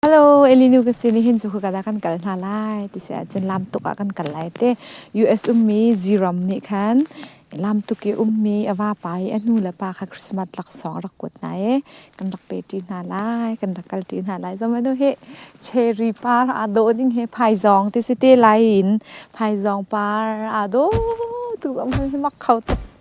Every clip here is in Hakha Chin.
Hello, Elinu ka si ni hin chu ka da kan kal hna lai ti se cun lam tuk ah kan kal lai te US ummi Ziram nih khan lam tuk i ummi a vapa i a nu le pa kha Christmas laksawng rak kuat hna i kan rak pe ṭi hna lai kan rak kal ṭi hna lai zomanu hi cherry par aa dawh ding he phaizawng ti si te lai in phaizawng par aa dawh tuk zom hi mak kho tuk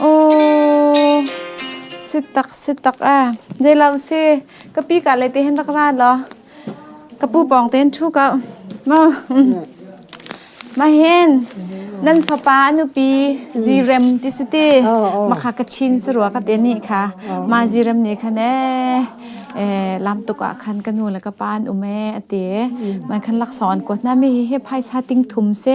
Aw, sitak sitak e. Dei lo si. Ka pi ka le te hin rak ra law. Ka pu pawng tein thu ka. Ma. Ma hin. Nan fapa anupi zirem ti si ti. Ma kha ka chin si rua ka te ni kha. Ma zirem ni kha ne. Eh, lam tuk ah khan ka nu le ka pa an um e, ati. Man khan lak sawn ko na mi hi hi phaisa ting thum si.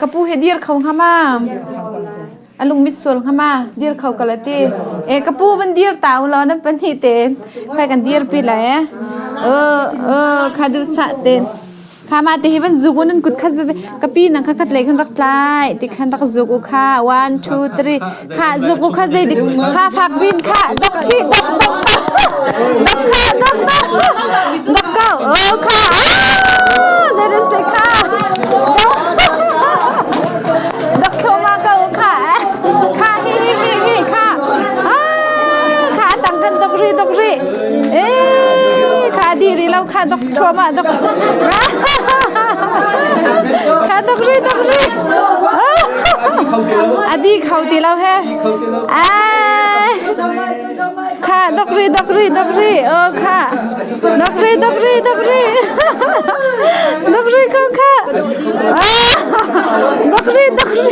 ka pu hi dir kho ngama alung mit sual ngama dir kho kala ti e ka pu van dir ta u lo na pani te phai kan dir pi la e o o khadu sa te khama te hi van zugun an kut khat ve ka pi nang khat khat le khan rak tlai ti khan rak zug u kha 1 2 3 Kha zuk u kha zeidik kha fak bin kha dok chi dok dok dok kha dok dok dok kau oh kha that is say kha dok thloma kau kha kha hi hi hi hi kha ah kha tang kan dok ri dok ri eh kha di ri lo kha dok thloma dok kha dok ri dok ri A di kho ti lo he. Ai. Kha dok ri dok ri dok ri. Oh kha. Dok ri dok ri dok ri. Dok ri kho kha. Dok ri dok ri.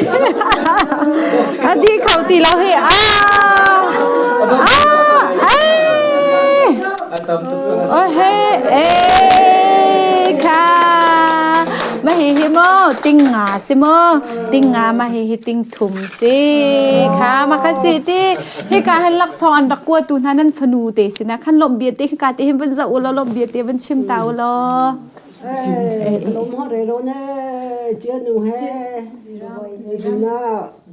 A di kho ti lo he. Ah. Ah. Ai. Oh he. Eh. ma hi hi maw ting nga si maw ting nga ma hi hi ting thum si kha ma kha si ti hika han laksawng an rak kuatu hna nan fanu te sina khan lom bia te hika te hin van za ula lom bia te van chim ta ula Lomho re ro ne, jia nu he, zira,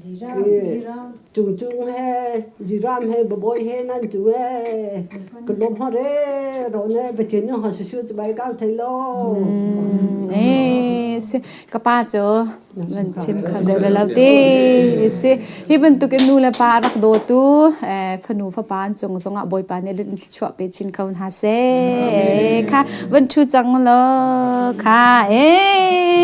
zira, Cucu he ziram he babawi he nan tu e ka lom ha re ro ne pathin no ha su tu bai kal thei lo eh si ka pa cho van chim kha le la te si hi bantuk in nu le pa rak do tu fanu fa pan chung zonga boy pa ne lin chua pe chin khaun ha se kha van thu chang lo kha eh